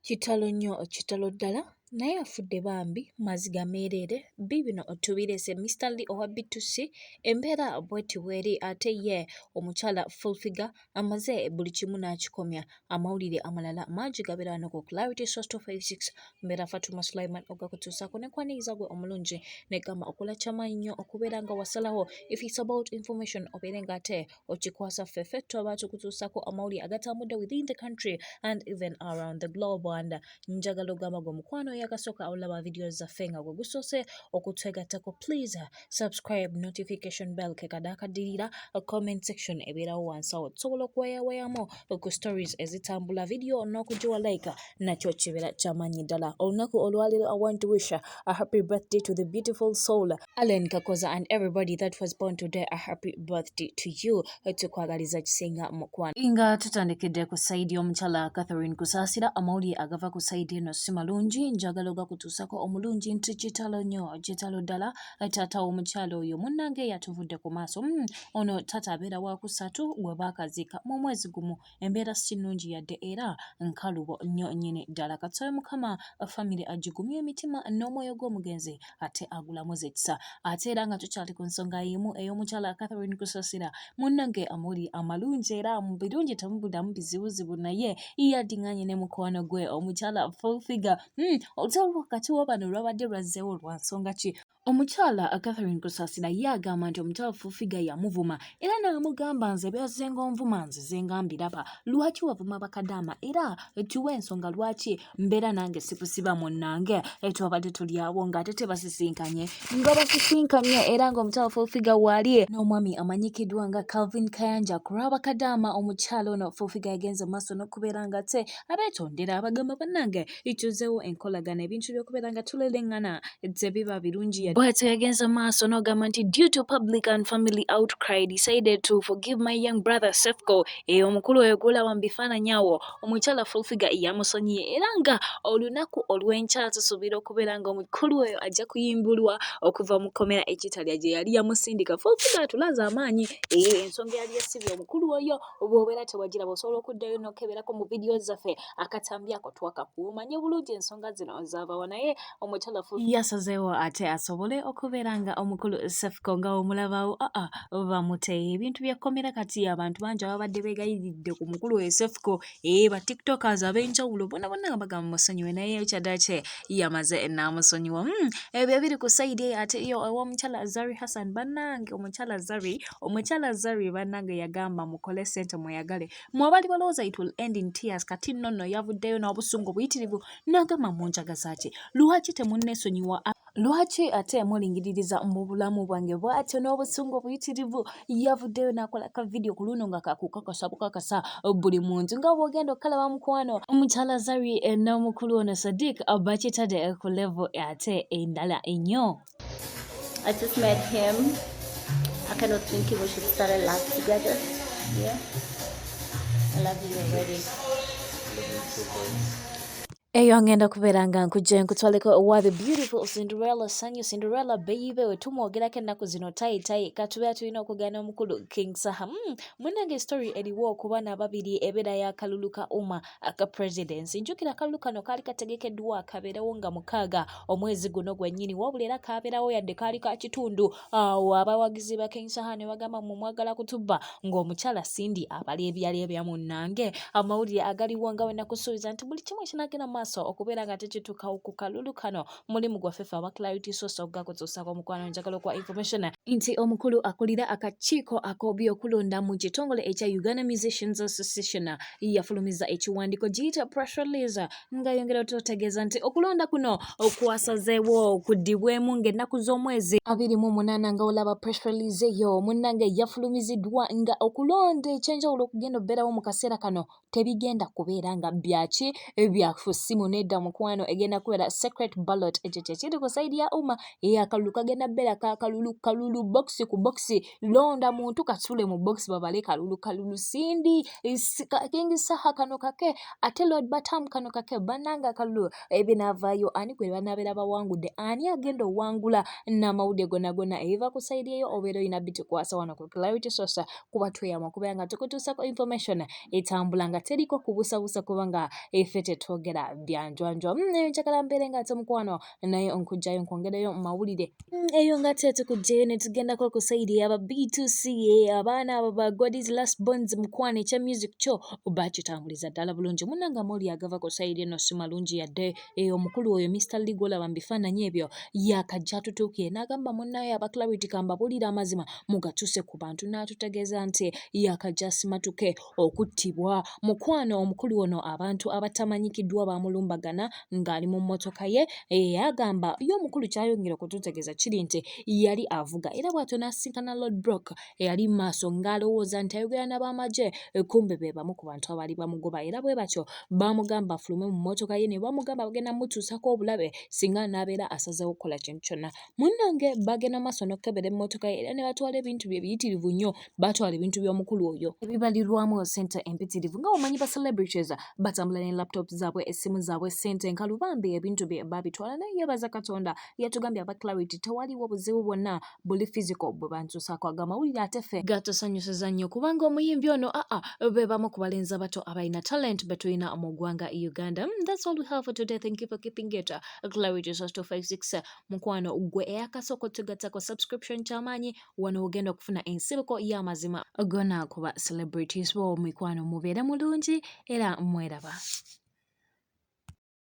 Kitalo nyo kitalo ddala naye afudde bambi maziga meereere biibino otubireese Mister Lee owa B2C embeera bweti bweri ate ye omukyala full figure amaze buli kimu n'akikomya amawulire amalala mangi gabeera wano ku Clarity Source 256 mbeera Fatuma Sulaiman ogakutuusaako ne kwaniriza gwe omulungi ne gamba okola kyamaanyi nnyo okubeera nga wasalawo if it's about information obeere nga ate okikwasa ffe ffe tuba tukutuusako amawulire agatambudde within the country and even around the globe and njagala ogamba gwe mukwano oyakasooka awulaba vidiyo zaffe nga gwe gusoose okutwegattako please subscribe notification bell kekadaakadirira comment section ebeerawo wansawo tusobola okuwayawayamu ku stories ezitambula vidiyo n'okugiwa like nakyo kibeera kyamanyi ddala olunaku olwaliro i want to wish a happy birthday to the beautiful soul Allen Kakoza and everybody that was born today a happy birthday to you tukwagaliza kisinga mukwano nga tutandikidde ku saidi y'omukyala Catherine Kusasira amawulire agava ku saidi eno si malungi njagala ogakutuusako omulungi nti kitalo nnyo kitalo ddala taata w'omukyala oyo munnange yatuvudde ku maaso hmm, ono taata abeera wa kusatu gwe baakaziika mu mwezi gumu embeera si nnungi yadde era nkalubo nnyo nnyini ddala katusabe mukama famire agigumye emitima n'omwoyo gw'omugenzi ate agulamuza ekisa ate era nga tukyali ku nsonga yimu ey'omukyala catherine kusasira munnange amuli amalungi era mu birungi temubulamu bizibuzibu naye yadinganye ne mukwano gwe omukyala fulfiga hmm, olutalo wakati wa bano lwabadde lwazzeewo lwa nsonga ki Omukyala Catherine Kusasira ye agamba nti omukyala Fufiga yamuvuma era n'amugamba nze byazze ng'onvuma nzize nga mbiraba lwaki wavuma bakadaama era tuwa ensonga lwaki mbeera nange sikusiba munnange twabadde tuli awo ng'ate tebasisinkanye nga basisinkanye era ng'omukyala Fufiga waali n'omwami amanyikiddwa nga Calvin Kayanja ku lwa bakadaama omukyala ono Fufiga yagenze mu maaso n'okubeera ng'ate abeetondera abagamba bannange ituzeewo enkolagana ebintu by'okubeera nga tuleleŋŋana tebiba birungi yadde bw'atyo yagenze maaso n'ogamba nti due to public and family outcry decided to forgive my young brother Sefco eyo eh, omukulu oyo gw'olaba mu bifaananyi awo omukyala full figure yamusonyiye era nga olunaku olw'enkya tusuubira okubeera nga omukulu oyo ajja kuyimbulwa okuva mu kkomera ekitalya gye yali yamusindika full figure atulaze amaanyi eyo eh, ensonga yali yasibye omukulu oyo bw'obeera tewagiraba osobola okuddayo n'okeberako mu vidiyo zaffe akatambi ako twakakuuma nye bulungi ensonga zino zabawa naye omukyala fu yasazeewo ate asobole okubeera nga omukulu sefko nga omulabawo aa bamuteye ebintu byekkomera kati abantu bangi ababadde begayiridde ku mukulu we sefko ee ba tiktokers ab'enjawulo bona bona nga bagamba musonyiwe naye kyadakye yamaze enaamusonyiwa hmm, ebyo biri ku saidi eyo ate yo owomukyala zari hassan banange omukyala zari omukyala zari banange yagamba mukole sente mweyagale mu abali balowooza it will end in tears kati nno nno yavuddeyo n'obusungu buyitirivu n'agamba mu njaga zaaki lwaki temunneesonyiwa lwaki ate mulingiririza mu bulamu bwange bwatyo n'obusungu obuyitirivu yavuddeyo n'akola ka vidiyo ku luno nga kakukakasa bukakasa buli muntu nga bwogenda okukalaba mukwano omukyala zari eh, n'omukulu ono sadiq bakitadde ku levo ate endala ennyo I just met him. I kind of thinking we should start a life together. Yeah. I love you already. eyo ngenda kubeera nga nkujja nkutwaleko owa the beautiful cinderella sanyu cinderella bayibe wetumwogerako ennaku zino tayitayi katubeera tulina okugaana omukulu king saha mm, munange story eriwo okuba nababiri ebeera yakalulu ka uma aka presidency njukira akalulu kano kaali kategekeddwa kabeerewo nga mukaaga omwezi guno gwennyini wabula era kabeerawo yadde kaali ka kitundu awo abawagizi ba king saha ne bagamba mu mwagala kutubba ng'omukyala sindi abala ebyali ebya munnange amawulire agaliwo nga wenakusuubiza nti buli kimu ekinagenda maaso okubeera nga tekituukawo ku kalulu kano mulimu gwaffe ffe aba clarity sosa okugako tusaako omukwano njagala okuwa information nti omukulu akulira akakiiko ak'obyokulonda mu kitongole ekya uganda musicians association yafulumiza ekiwandiiko giyita press release ngayongera otutegeeza nti okulonda kuno okwasazeewo okudibwemu ng'ennaku z'omwezi abiri mu munaana nga olaba press release eyo munnange yafulumiziddwa nga okulonda ekyenjawulo okugenda okubeerawo mu kaseera kano tebigenda kubeera nga byaki ebyafu simu nedda mukwano egenda kubeera secret ballot ekyo kyekiri ku saidi ya uma eyo akalulu kagenda beera kakalulu kalulu bokisi ku bokisi londa muntu kasule mu bokisi babale kalulu kalulu sindi kingi saha kano kake ate lord batamu kano kake bananga akalulu ebinavayo ani gwe banabeera bawangudde ani agenda owangula n'amawulire gonagona eva ku saidi eyo obeera oyina bitukwasa wano ku clarity sosa kuba tweyama kubeera nga tukutuusako information etambula nga teriko kubusabusa kubanga efe tetwogera byanjwanjwa mm, naye njagala mbeere nga ate mukwano naye onkugjayo nkwongereyo mumawulire mm, eyo nga te tukugjayo netugendako ku saidi aba b2c abaana abo ba godis last bonds mukwano ekya music kyo bakitambuliza ddala bulungi munange amooli agava ku saidi eno si malungi yadde Eyo omukulu oyo Mr. Lee gwolaba mu bifaananyi ebyo yaakajja atutuukire n'agamba munnaaye aba Clarity kambabuulire amazima mugatuuse ku bantu n'atutegeeza nti yaakajja asimatuke okuttibwa. Mukwano omukulu ono abantu abatamanyikiddwa baamulumbagana ng'ali mu mmotoka ye eyagamba ye omukulu ky'ayongera okututegeeza kiri nti yali avuga era bw'atyo n'asisinkana Lord Brock eyali mu maaso ng'alowooza nti ayogera n'abamagye kumbe be bamu ku bantu abaali bamugoba era bwe batyo baamugamba afulume mu mmotoka ye ne bamugamba bagenda mutuusako obulabe singa anaabeera asazeewo okukola kintu kyonna munnange bagenda maaso n'okukebera emmotoka ye era ne batwala ebintu bye biyitirivu nnyo baatwala ebintu by'omukulu oyo ebibalirwamu ssente empitirivu nga wamanyi ba celebrities batambula ne laptop zaabwe essimu zaabwe ssente nkalubambi ebintu bye baabitwala naye yeebaza katonda yatugambye aba clarity tewaliwo buzibu bwonna buli physical bwe bantuusaako ago amawulire ate ffe gatusanyusiza nnyo kubanga omuyimbi ono aa be bamu ku balenzi abato abalina talent be tulina mu ggwanga e uganda mm, that's all we have for today thank you for keeping it uh, clarity source 256 mukwano gwe eyakasooka otugattako subscription kyamaanyi wano ogenda okufuna ensibuko y'amazima gona kuba celebrities bo mikwano mubeere mulungi era mweraba